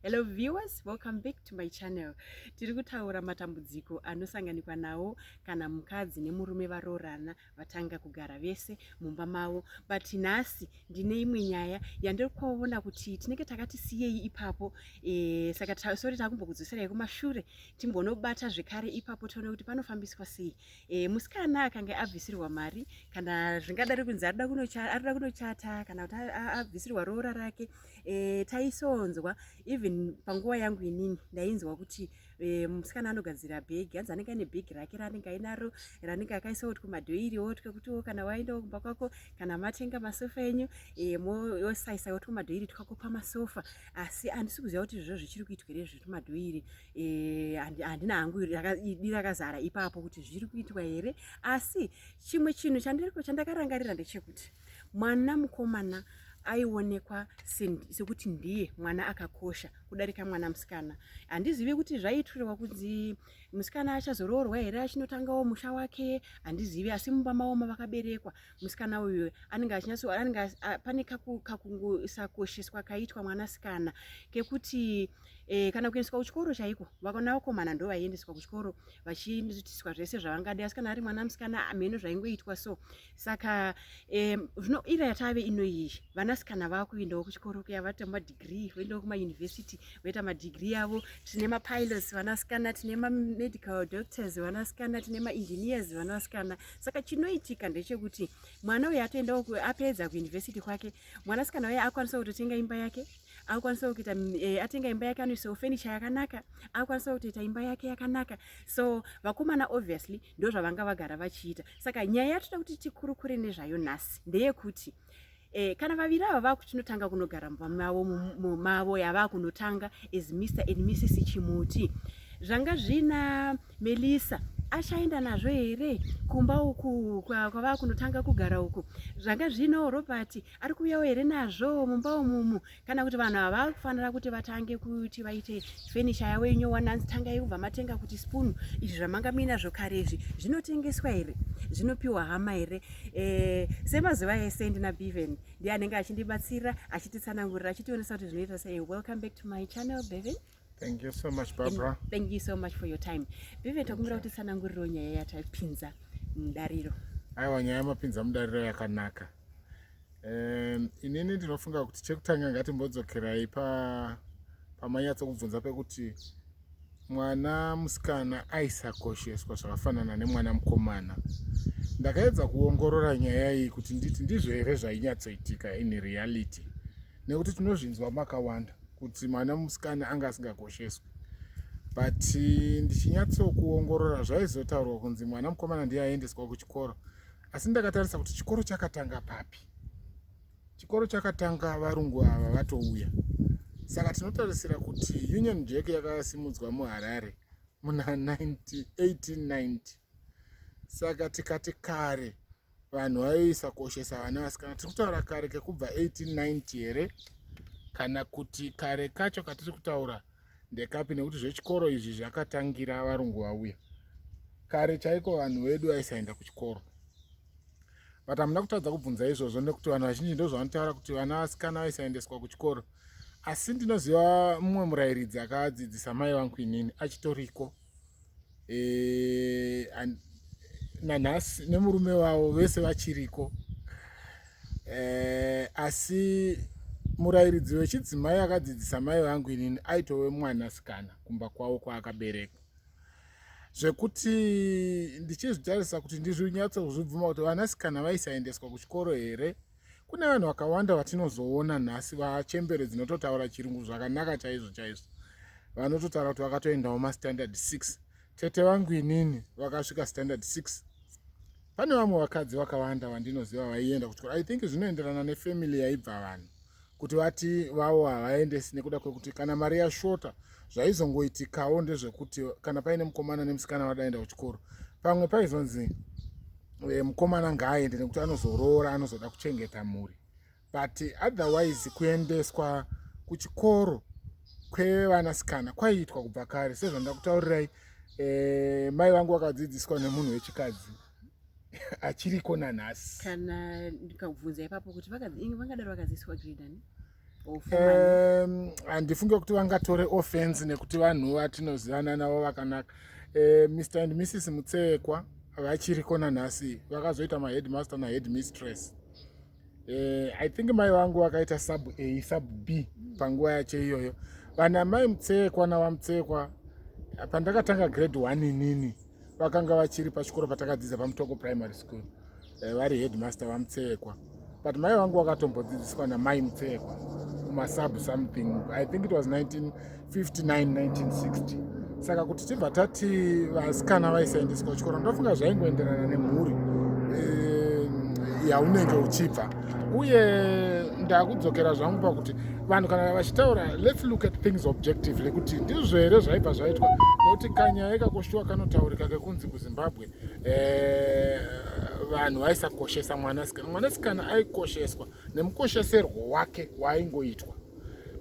Hello viewers, welcome back to my channel. Tiri kutaura matambudziko anosanganikwa nawo kana mukadzi nemurume varoorana vatanga kugara vese mumba mavo. But nhasi ndine imwe nyaya yandiri kuona kuti tinenge takati siyei ipapo. E, saka ta, sorry takumbokudzoserai kumashure timbonobata zvekare ipapo tione kuti panofambiswa sei. e, musikana akange abvisirwa mari kana zvingadari kunzi arida kunochata kana kuti abvisirwa roora rake e, taisonzwa even panguva yangu inini ndainzwa kuti e, musikana anogadzira bhegi hanzi anenge aine bhegi rake raanenge ainaro ranenge akaisawo kuti kumadhoiri wotya kuti wo kana waendawo kumba kwako kana matenga masofa enyu e, mosaisaiwo kuti kumadhoiri twako pamasofa asi handisi kuziva kuti izvozvo zvichiri kuitwa here zvetumadhoiri Eh, handina hangu idi rakazara ipapo kuti zviri kuitwa here asi chimwe chinhu chandiriko chandakarangarira ndechekuti mwana mukomana aionekwa sekuti ndiye mwana akakosha kudarika mwana musikana handizivi kuti zvaiitirwa kunzi musikana achazoroorwa here achinotangawo musha wake handizivi asi mumba maoma vakaberekwa musikana uyu anenge achinyatso anenge pane kakusakosheswa kaitwa mwanasikana kekuti e, kana kuendeswa kuchikoro chaiko vakona vakomana ndo vaiendeswa kuchikoro vachiitiswa zvese zvavangadi asi kana ari mwana musikana amheno zvaingoitwa so saka e, zvino ira yatave ino iyi vanasikana vava kuendawo kuchikoro kuya vaita madigrii voendawo kumayunivhesiti voita madigrii avo tine mapilots vanasikana tine mamedical doctors vanasikana tine maengineers vanasikana saka chinoitika ndechekuti mwana uyu atoenda apedza kuuniversity kwake mwanasikana uye akwanisa kutotenga imba yake akwanisa kuita e, atenga imba yake anoisawo fenicha yakanaka akwanisa kutoita imba yake yakanaka so vakomana obviously ndozvavanga vagara vachiita saka nyaya yatoda kuti tikurukure nezvayo nhasi ndeyekuti Eh, kana vaviri ava vakuchinotanga kunogara mumba mavo mavo yavakunotanga as mr and mrs chimuti zvanga zvina melissa achaenda nazvo here kumba uku kwavakunotanga kugara uku zvanga zvino robert ari kuuyawo here nazvo mumba umumu kana kuti vanhu ava vari kufanira kuti vatange kuti vaite fenisha yavo inyowa nanzi tanga yekubva matenga kuti spoon izvi zvamanga muina zvokare izvi zvinotengeswa here zvinopiwa hama here e, semazuva ese ndina beven ndiye anenge achindibatsira achititsanangurira achitionesa kuti zvinoita sei welcome back to my channel beven Thank you so much Barbara. Thank, thank you so much for your time. Vive takumbira kuti sananguriro nyaya yatapinza mudariro. Aiwa nyaya mapinza mudariro yakanaka. Um, inini ndinofunga kuti chekutanga ngatimbodzokerai pa pamanyatso kubvunza pekuti mwana musikana aisakosheswa zvakafanana nemwana mukomana. Ndakaedza kuongorora nyaya iyi kuti nditi ndizvo here zvainyatsoitika in reality. nekuti tinozvinzwa makawanda kuti mwana musikana anga asingakosheswi but eh, ndichinyatsokuongorora zvaizotaurwa kunzi mwana mukomana ndiye aendeswa kuchikoro asi ndakatarisa kuti chikoro chakatanga papi chikoro chakatanga varungu ava vatouya saka tinotarisira kuti union jack yakasimudzwa muharare muna 1890 saka tikati kare vanhu vaiisa koshesa vana vasikana tiri kutaura kare kekubva 1890 here kana kuti kare kacho katiri kutaura ndekapi nekuti zvechikoro izvi zvakatangira varungu vauya kare chaiko vanhu vedu vaisaenda kuchikoro but hamuna kutadza kubvunza izvozvo nekuti vanhu vazhinji ndozvavanotaura kuti vana vasikana vaisaendeswa kuchikoro asi ndinoziva mumwe murayiridzi akadzidzisa mai vangu inini achitoriko e, and, nanhasi nemurume wavo vese vachiriko e, asi murayiridzi wechidzimai akadzidzisa mai vangu inini aitove mwanasikana kumba kwavo kwaakaberekwa zvekuti ndichizvitarisa kuti ndizvinyatsokuzvibvuma kuti vanasikana vaisaendeswa kuchikoro here e, kune vanhu vakawanda vatinozoona nhasi vachembere dzinototaura chirungu zvakanaka chaizvo chaizvo vanototaura kuti vakatoendawo mastandard 6 tete vangu inini vakasvika standard 6 pane vamwe vakadzi vakawanda vandinoziva vaienda kuchikoro i think zvinoenderana nefamily yaibva vanhu kuti vati vavo havaendesi nekuda kwekuti kana mari yashota zvaizongoitikawo ndezvekuti kana paine mukomana nemusikana vadaenda kuchikoro pamwe paizonzi eh, mukomana ngaaende nekuti anozoroora anozoda kuchengeta mhuri but otherwise kuendeswa kuchikoro kwevanasikana kwaiitwa kubva kare sezvandakutaurirai eh, mai vangu vakadzidziswa nemunhu wechikadzi achiriko nanhasi kana ndikabvunza ipapo kuti vangadaro vakaziiswa gridani handifunge kuti vangatore offense nekuti vanhu vatinozivana navo vakanaka eh, mr and mrs mutsekwa vachiriko nanhasi vakazoita maheadmaster naheadmistress Eh, I think mai vangu vakaita sub A sub B panguva yacho iyoyo. Vana mai Mutsekwa na Vamutsekwa pandakatanga grade 1 inini vakanga vachiri pachikoro patakadzidza paMutoko Primary School. Eh, vari headmaster Vamutsekwa. But mai vangu vakatombodzidziswa na mai Mutsekwa kuma sub something. I think it was 19 1960 saka kuti tibva tati vasikana vaisaendeswa kuchikoro ndofunga zvaingoenderana nemhuri eh, yaunenge uchibva uye ndakudzokera zvangu pakuti vanhu kana vachitaura lets look at things objectively kuti ndizvo here zvaibva zvaitwa nekuti kanyaya kakoshuwa kanotaurika kekunzi kuzimbabwe eh, vanhu vaisakoshesa mwanasikana mwanasikana aikosheswa nemukosheserwo wake waaingoitwa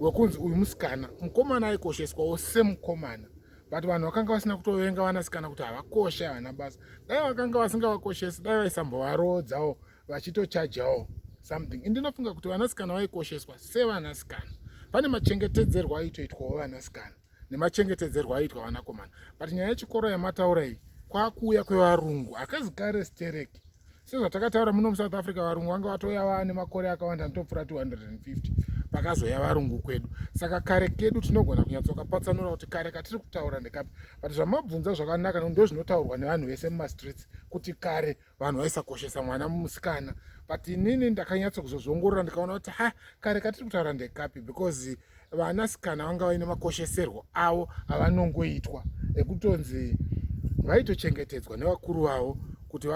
wekunzi uyu musikana mukomana aikosheswawo semukomana but vanhu vakanga vasina kutovenga vanasikana kuti havakoshe havana basa dai vakanga vasingavakoshesi dai vaisambovaroodzawo vachitochajawo something indinofunga kuti vanasikana vaikosheswa sevanasikana pane machengetedzerwo aitoitwawo vanasikana nemachengetedzerwo aiitwa vanakomana but nyaya yechikoro yamataura iyi kwakuuya kwevarungu akazi kare stereki sezvatakataura muno musouth africa varungu vanga vatoya vane makore akawanda anotopfura 250 pakazoya varungu kwedu saka kare kedu tinogona kunyatsokapatsanura kuti kare katiri kutaura ndekapi but zvamabvunza zvakanaka nondo zvinotaurwa nevanhu vese mumastreets kuti kare vanhu vaisakoshesa mwana musikana but inini ndakanyatso kuzozvongorora ndikaona kuti ha kare katiri kutaura ndekapi because vanasikana vanga vaine makosheserwo avo avanongoitwa ekutonzi vaitochengetedzwa nevakuru vavo kuti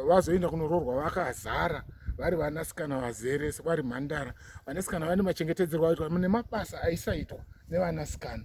vazoenda kunoroorwa vakazara vari vanasikana vazere sevari mhandara vanasikana vane machengetedzerwo aitwa nemabasa aisaitwa nevanasikana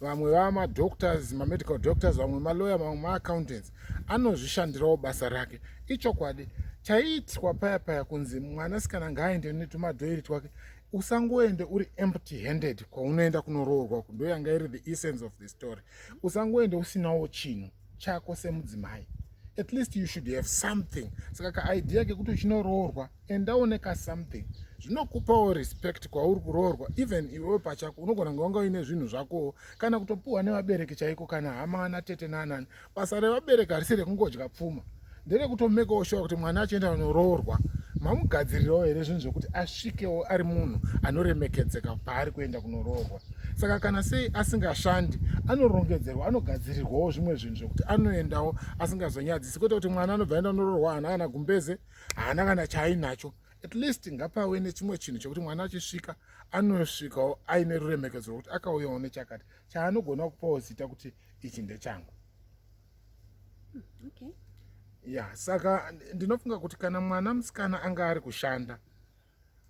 vamwe vava madoctors mamedical doctors vamwe maloya vamwe maaccountants anozvishandirawo basa rake ichokwadi chaiitwa paya paya kunzi mwanasikana ngaaende netumadhoiri twake usangoende uri empty handed kwaunoenda kunoroorwa ndoyanga iri the essence of the story usangoende usinawo chinhu chako semudzimai at least you should have something saka kaidea kekuti uchinoroorwa endaone ka something zvinokupawo respect kwauri kuroorwa even iwewe pachako unogona kunge wanga uine zvinhu zvakowo kana kutopiwa nevabereki chaiko kana hama ana tete naanani basa revabereki harisi rekungodya pfuma nderekutomekewo shuwa kuti mwana achienda anoroorwa mamugadzirirawo here zvinhu zvekuti asvikewo ari munhu anoremekedzeka paari kuenda kunoroorwa saka kana sei asingashandi anorongedzerwa anogadzirirwawo zvimwe zvinhu zvekuti anoendawo asingazonyadzisi kwete kuti mwana anobva enda kunoroorwa haana kana gumbeze haana kana chaainacho at least ngapave nechimwe chinhu chekuti mwana achisvika anosvikawo aine ruremekedzo rwekuti akauyawo nechakati chaanogona kupawo zita kuti ichi ndechangu okay ya saka ndinofunga kuti kana mwana musikana anga ari kushanda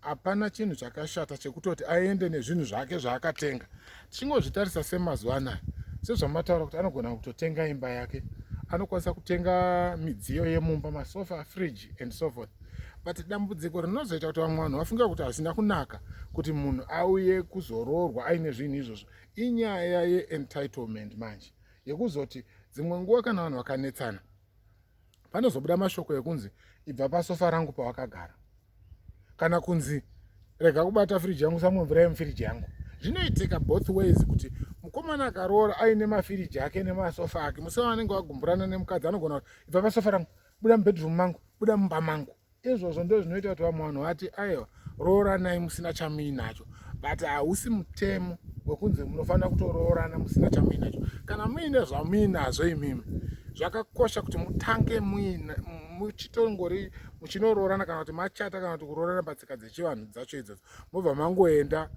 hapana chinhu chakashata chekutoti aende nezvinhu zvake zvaakatenga tichingozvitarisa semazuva anaya sezvamataura kuti anogona kutotenga imba yake anokwanisa kutenga midziyo yemumba masofa fridge and so forth but dambudziko rinozoita kuti vamwe vanhu vafunga kuti hazvina kunaka kuti munhu auye kuzoroorwa aine zvinhu izvozvo inyaya yeentitlement manje yekuzoti dzimwe nguva kana vanhu vakanetsana panozobuda mashoko ekunzi ibva pasofa rangu pawakagara kana kunzi rega kubata firiji yangu samwe mvura yemufiriji yangu zvinoitika both ways kuti mukomana akaroora aine mafiriji ake nemasofa ake musi wavanenge vagumburana nemukadzi anogona kuti ibva pasofa rangu buda mubedroom mangu buda mumba mangu izvozvo ndo zvinoita kuti vamwe vanhu vati aiwa rooranai musina chamuinacho but hausi mutemo wekunzi munofanira kutoroorana musina chamuinacho kana muine zvamuinazvo imimi zvakakosha kuti mutange muina muchitongori muchinoroorana kana kuti machata kana kuti kuroorana patsika dzechivanhu dzacho idzodzo mobva mangoenda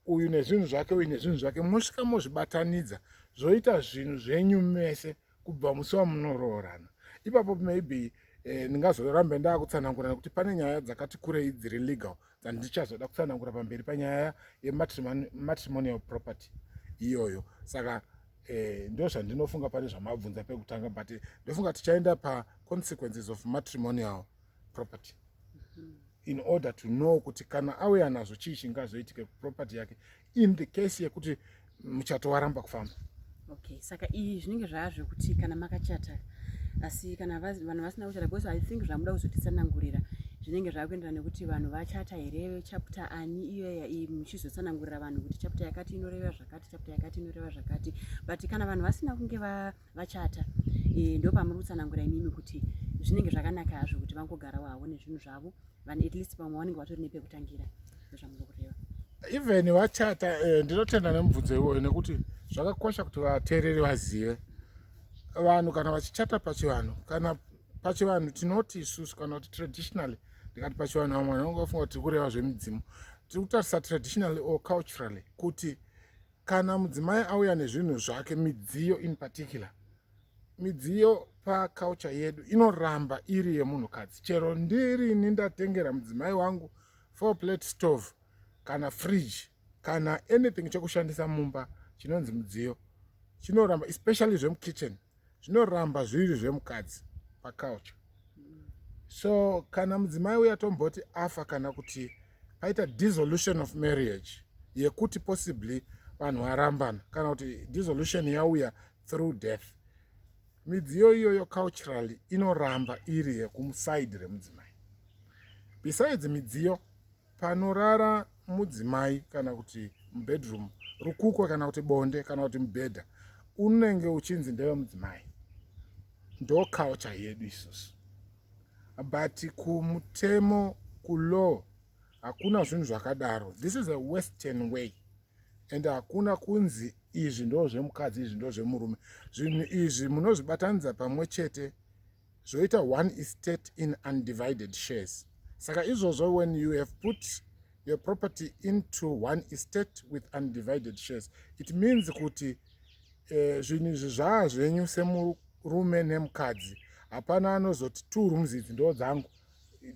uyu nezvinhu zvake uyu nezvinhu zvake mosvika mozvibatanidza zvoita zvinhu zvenyu mese kubva musi wamunoroorana ipapo maybe eh, ndingazorambe ndakutsanangura nekuti pane nyaya dzakati kurei dziri legal dzandichazoda kutsanangura pamberi panyaya yematrimonial property iyoyo saka eh, ndo zvandinofunga pane zvamabvunza pekutanga but ndofunga tichaenda paconsequences of matrimonial property in order to know kuti kana auya nazvo chii chingazoitike property yake in the case yekuti muchato waramba kufamba okay saka iyi zvinenge zvava zvekuti kana makachata asi kana vanhu vasina kuchata because i think zvamuda kuzotitsanangurira zvinenge zvava kuenderana nekuti vanhu vachata here chapta ani iyoya iyi muchizotsanangurira vanhu kuti chapta yakati inoreva zvakati chapta yakati inoreva zvakati but kana vanhu vasina kunge va, va vachata e, ndo pamuri kutsanangura imimi kuti zvinenge zvakanaka hazvo kuti vangogara waone zvinhu zvavo vanhu at least vamwe vanenge vatori nepekutangira ndozvamuri kureva even vachata e, ndinotenda nemubvunzo iwoyo nekuti zvakakosha kuti vateereri vazive vanhu kana vachichata pachivanhu kana pachivanhu tinoti isusu kana kuti traditionally ndikati pachivanhu vamwe vanhu vange vafunga kuti tiri kureva zvemidzimu tiri kutarisa traditionally or culturally kuti kana mudzimai auya nezvinhu zvake midziyo in particular midziyo paculture yedu inoramba iri yemunhukadzi chero ndirini ndatengera mudzimai wangu four plate stove kana fridge kana anything chekushandisa mumba chinonzi mudziyo chinoramba especially zvemukitchen zvinoramba zviri zvemukadzi pacouch so kana mudzimai uya tomboti afa kana kuti paita dissolution of marriage yekuti possibly vanhu varambana kana kuti dissolution yauya through death midziyo iyoyo culturally inoramba iri yekumuside remudzimai besides midziyo panorara mudzimai kana kuti mubedroom rukukwa kana kuti bonde kana kuti mubhedha unenge uchinzi ndeve mudzimai ndo culture yedu isusu but kumutemo kulaw hakuna zvinhu zvakadaro this is a western way and hakuna kunzi izvi ndo zvemukadzi izvi ndo zvemurume zvinhu izvi munozvibatanidza pamwe chete zvoita one estate in undivided shares saka izvozvo when you have put your property into one estate with undivided shares it means kuti eh, zvinhu izvi zvaa zvenyu semurume nemukadzi hapana anozoti two rooms idzi ndoo dzangu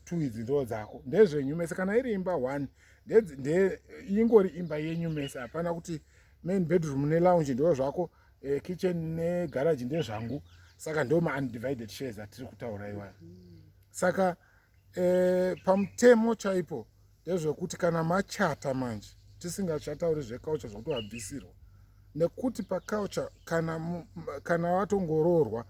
two idzi ndoo dzako ndezvenyu mese kana iri imba one ingori imba yenyu mese hapana kuti main bedroom nelounge ndoo zvako eh, kitchen negaraji ndezvangu saka ndo maundivided shares atiri kutaura iwayo saka eh, pamutemo chaipo ndezvekuti kana machata manje tisingachatauri zvekaucha zvokuti wabvisirwa nekuti pakaucha kana, kana watongoroorwa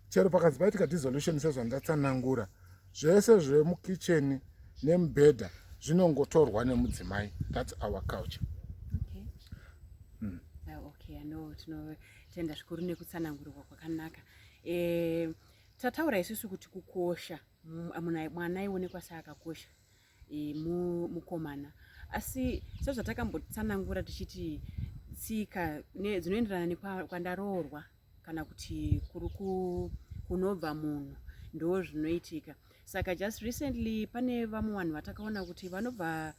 chero pakanzi paitika dissolution sezvandatsanangura zvese zvemukicheni nemubhedha zvinongotorwa nemudzimai thats our culture okay. mm. uh, okay, ano tinotenda zvikuru nekutsanangurwa kwakanaka e, tataura isusu kuti kukosha mwana aionekwa seakakosha e, mukomana asi sezvatakambotsanangura tichiti tsika dzinoenderana nekwandaroorwa kana kuti kuri kunobva munhu ndo zvinoitika saka just recently pane vamwe vanhu vatakaona kuti vanobva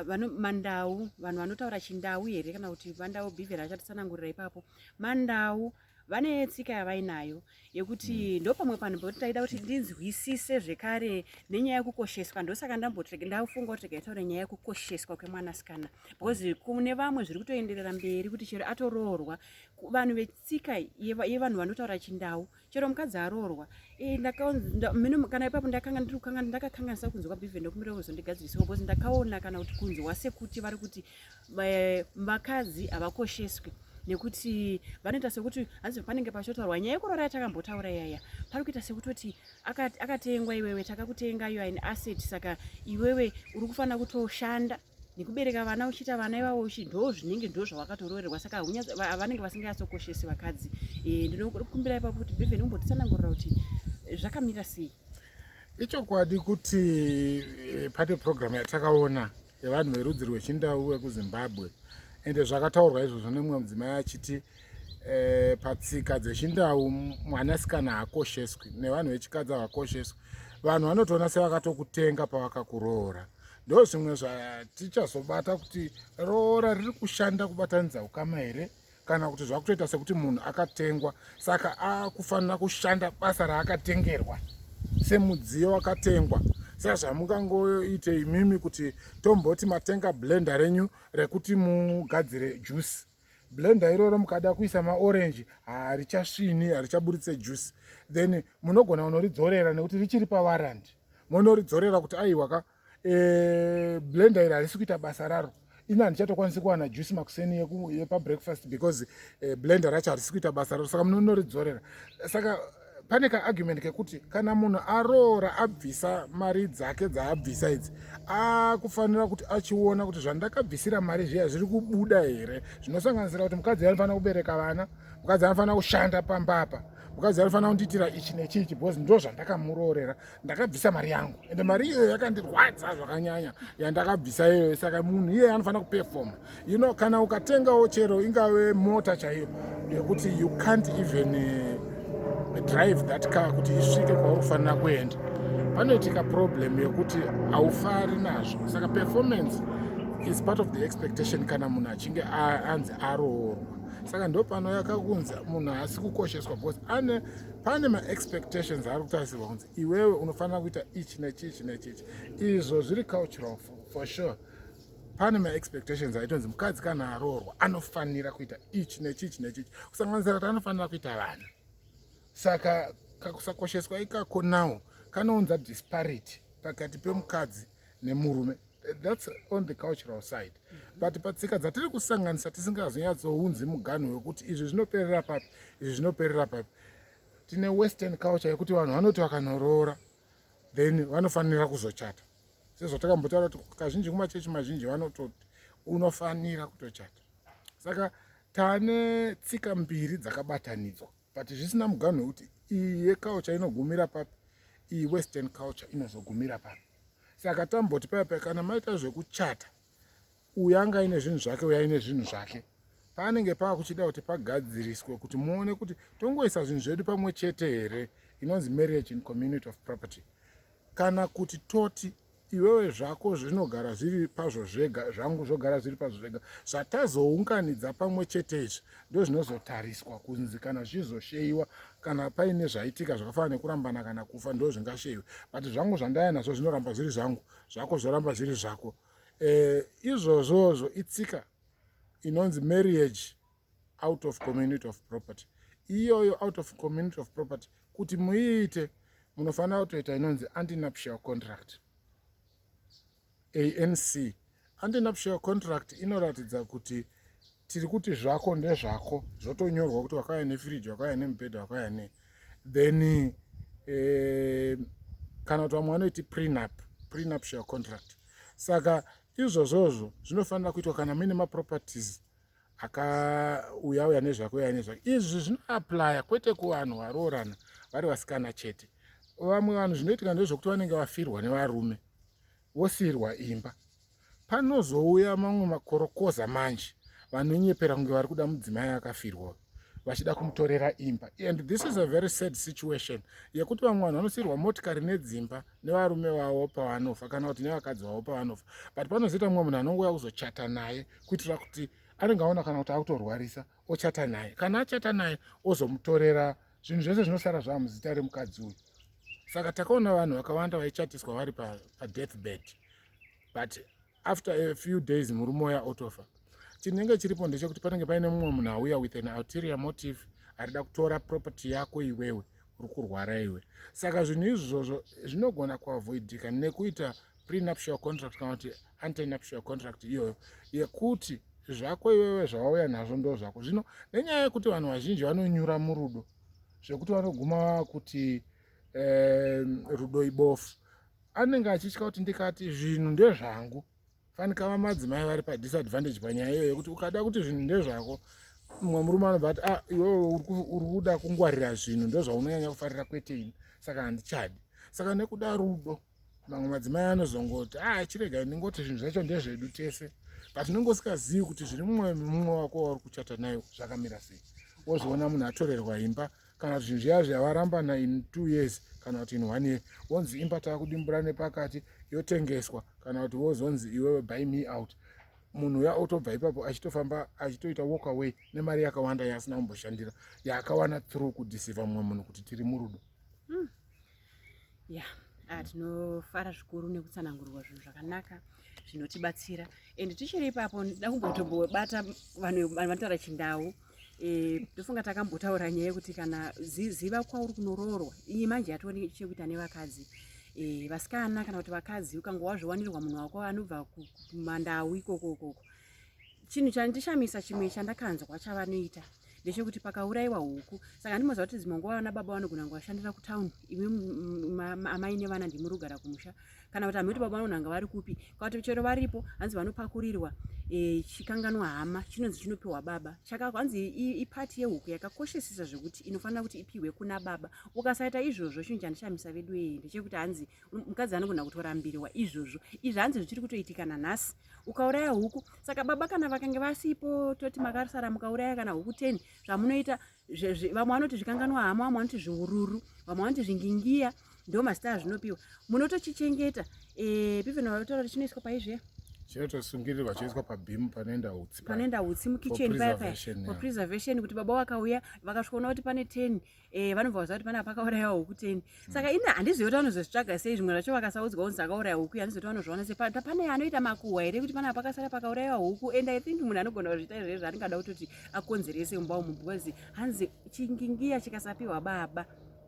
vano mandau vanhu vanotaura chindau here kana kuti mandau bhivhera achatitsanangurira ipapo mandau vane tsika yavainayo yekuti mm. ndopamwe panhu pekuti ndaida kuti ndinzwisise zvekare nenyaya yekukosheswa ndosaka ndambotrega ndafunga kuti rega nyaya yekukosheswa kwemwanasikana because kune vamwe zviri kutoenderera mberi kuti chero atoroorwa vanhu vetsika yevanhu vanotaura chindau chero mukadzi aroorwa eh, kana ipapo ndakanga ndiri kukanga ndakakanganisa kunzwa bivhe ndokumbira kuzondigadzirisawo because ndakaona kana kuti kunzwa sekuti vari kuti vakadzi havakosheswi nekuti vanoita sekuti hanzi panenge pachotaurwa nyaya yekurora yatakambotaura yaya pari kuita sekutoti akatengwa iwewe takakutenga you are an asset saka iwewe uri kufanira kutoshanda nekubereka vana uchiita vana ivavo uchi ndoo zvinenge ndoo zvawakatoroorerwa saka vanenge vasinganyatsokoshesi vakadzi eh, ndinokumbira ipapo kuti bevhen umbotitsanangurira kuti zvakamira sei ichokwadi kuti eh, pate programu yatakaona yevanhu verudzi rwechindau vekuzimbabwe ende zvakataurwa izvozvo nemumwe mudzimai achiti e, patsika dzechindau mwanasikana haakosheswi nevanhu vechikadzi havakosheswi vanhu vanotoona sevakatokutenga pavakakuroora ndo zvimwe zvatichazobata kuti roora riri kushanda kubatanidza ukama here kana kuti zvakutoita sekuti munhu akatengwa saka akufanira kushanda basa raakatengerwa semudziyo wakatengwa saka zvamungangoite imimi kuti tomboti matenga blenda renyu rekuti mugadzire juice blenda iroro mukada kuisa maorenji harichasvini harichaburitse juice then munogona kunoridzorera nekuti richiri pawarandi monoridzorera kuti aiwaka eh, blender iri harisi kuita basa raro ini handichatokwanisi kuwana juice makuseni yepabreakfast because eh, blender racho harisi kuita basa raro saka munonoridzorera saka pane kaargument kekuti kana munhu aroora abvisa mari dzake dzaabvisa idzi akufanira kuti achiona kuti zvandakabvisira mari zviya zviri kubuda here zvinosanganisira kuti mukadzi anofanira kubereka vana mukadzi anofanira kushanda pambapa mukadzi anofanira kundiitira ichi nechichi because ndo zvandakamuroorera ndakabvisa mari yangu ende mari iyoyo yakandirwadza zvakanyanya yandakabvisa iyoyo saka munhu iye anofanira kupefoma you know kana ukatengawo chero ingave mota chaiyo yekuti you can't even uh, drive that car kuti isvike kwauri kufanira kuenda panoitika problem yekuti haufari nazvo saka performance is part of the expectation kana munhu achinge anzi aroorwa saka ndopanouya kakunzi munhu haasi kukosheswa because ane pane maexpectations ari kutarisirwa kunzi iwewe unofanira kuita ichi nechichi nechichi izvo zviri cultural for sure pane maexpectations aitonzi mukadzi kana aroorwa anofanira kuita ichi nechichi nechichi kusanganisira kuti anofanira kuita vana saka kakusakosheswa ikako now kanounza disparity pakati pemukadzi nemurume that's on the cultural side but patsika dzatiri kusanganisa tisingazonyatsounzi muganho wekuti izvi zvinoperera papi izvi zvinoperera papi tine western culture yekuti vanhu vanoti vakanoroora then vanofanira kuzochata sezvatakambotaura kuti kazhinji kumachechi mazhinji vanototi unofanira kutochata saka tane tsika mbiri dzakabatanidzwa but zvisina muganhu wekuti iyi yeculture inogumira papi iyi western culture inozogumira papi saka tamboti paya paya kana maita zvekuchata uyu anga aine zvinhu zvake uyu aine zvinhu zvake panenge pava kuchida kuti pagadziriswe kuti muone kuti tongoisa zvinhu zvedu pamwe chete here inonzi marriage in community of property kana kuti toti Iwewe zvako zvinogara zviri pazvo zvega, zvangu zvogara zviri pazvo zvega. Zvatazounganidza pamwe chete izvi ndozvinozotariswa kunzi kana zvichizosheyiwa kana paine zvaitika zvakafana nekurambana kana kufa ndo zvingasheiwe but zvangu zvandaya nazvo zvinoramba zviri zvangu zvako zvoramba zviri zvako e, izvozvozvo itsika inonzi marriage out of community of property iyoyo out of community of property kuti muiite munofanira kutoita inonzi antinuptial contract anc antinuptial contract inoratidza kuti tiri kuti zvako ndezvako zvotonyorwa kuti wakauya nefiriji wakauya nemubhedha wakauya ne then eh, kana kuti vamwe vanoiti prenup prenuptial contract saka izvozvozvo zvinofanira kuitwa kana muine maproperties akauya uya nezvake uya nezvake izvi zvinoaplya kwete kuvanhu varoorana vari vasikana chete vamwe vanhu zvinoitika ndezvekuti vanenge vafirwa nevarume vosiirwa imba panozouya mamwe makorokoza manje vanonyepera kunge vari kuda mudzimai akafirwa vachida kumutorera imba and this is a very sad situation yekuti vamwe vanhu vanosiirwa motikari nedzimba nevarume vavo pavanofa kana kuti nevakadzi vavo pavanofa but panozoita mumwe munhu anongouya kuzochata naye kuitira kuti anenge aona kana kuti akutorwarisa ochata naye kana achata naye ozomutorera zvinhu zvese zvinosara zvava muzita remukadzi uyu saka takaona vanhu vakawanda vaichatiswa vari padeath pa bed but after a few days murume uya otofa chinenge chiripo ndechekuti panenge paine mumwe munhu auya with an alterior motive arida kutora property yako iwewe uri kurwara iwe saka zvinhu izvozvo zvinogona kuavoidika nekuita prenuptial contract kana kuti antenuptial contract iyoyo yekuti zvako iwewe zvawauya nazvo ndo zvako zvino nenyaya yekuti vanhu vazhinji vanonyura murudo zvekuti vanoguma kuti eh, rudo ibofu anenge achitya kuti ndikati zvinhu ndezvangu fanika vamadzimai vari padisadvantage panyaya iyoyo yekuti ukada kuti zvinhu ndezvako mumwe murume anobva ati ah, iwewe uri kuda kungwarira zvinhu ndozvaunonyanya kufarira kwete ini saka handichadi saka nekuda rudo mamwe madzimai anozongoti a ah, chiregai ndingoti zvinhu zvacho ndezvedu tese but unenge usikazivi kuti zviri mumwoyo memumwe wako wauri kuchata nayo zvakamira sei wozviona munhu atorerwa imba kana kuti zvinhu zviya zvavarambana in two years kana kuti in one year wonzi imba taakudimbura nepakati yotengeswa kana kuti wozonzi iwewe by me out munhu uya otobva ipapo achitofamba achitoita walk away nemari yakawanda yaasina kumboshandira yaakawana through kudhisiva mumwe munhu kuti tiri murudo mm. ya ah, tinofara zvikuru nekutsanangurwa zvinhu zvakanaka zvinotibatsira and tichiri ipapo ndida kumbotombobata vanhu vanotaura chindau eh, ndofunga e, takambotaura nyaya yekuti kana ziva kwauri kunoroorwa iyi manje yatova chekuita nevakadzi e, vasikana kana kuti vakadzi ukanga wazviwanirwa munhu wako anobva kumandau ikoko ukoko chinhu chandishamisa chimwe chandakanzwa chavanoita ndechekuti pakaurayiwa huku saka ndimoziva kuti dzimwe nguva vana baba vanogona nguvashandira kutawuni imi amai nevana ndimurugara kumusha kana kuti hamhoti baba vanonanga vari kupi kwakuti chero varipo hanzi vanopakurirwa e, chikanganwa hama chinonzi chinopiwa baba chaka hanzi ipati yehuku yakakoshesesa zvekuti inofanira kuti ipiwe kuna baba ukasaita izvozvo chinhu chandishamisa vedu ee ndechekuti hanzi mukadzi anogona kutorambiriwa izvozvo izvi hanzi zvichiri kutoitika nanhasi ukauraya huku saka baba kana vakange vasipo toti makasara mukauraya kana huku ten zvamunoita vamwe vanoti zvikanganwa hama vamwe vanoti zviururu vamwe vanoti zvingingiya ndo mazita azvinopiwa munotochichengeta eh, piveno vatotaura kuti chinoiswa paizve chinotosungirirwa choiswa pabhimu panoenda utsi panoenda utsi mukitchen paya paya for preservation kuti baba vakauya vakasvikoona kuti pane ten Eh, vanobva vaziva kuti panapa pakauraya huku teni hmm. saka ini handizivi kuti vanozozvitsvaga sei zvimwe zvacho vakasaudzwa kunzi akauraya huku handizivi kuti vanozviona sei pane anoita makuhwa here kuti panapa pakasara pakauraiwa huku and i think munhu anogona kuzviita izvozvo zvaringada kutoti akonzerese mumba umu because hanzi chingingiya chikasapiwa baba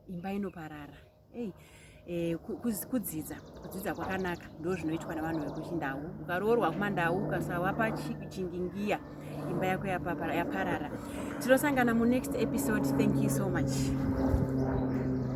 imba inoparara Hey. Eh, kudzidza kudzidza kwakanaka ndo zvinoitwa nevanhu vekuchindau ukaroorwa kumandau ukasawa pachingingiya imba yako yaparara tinosangana munext episode thank you so much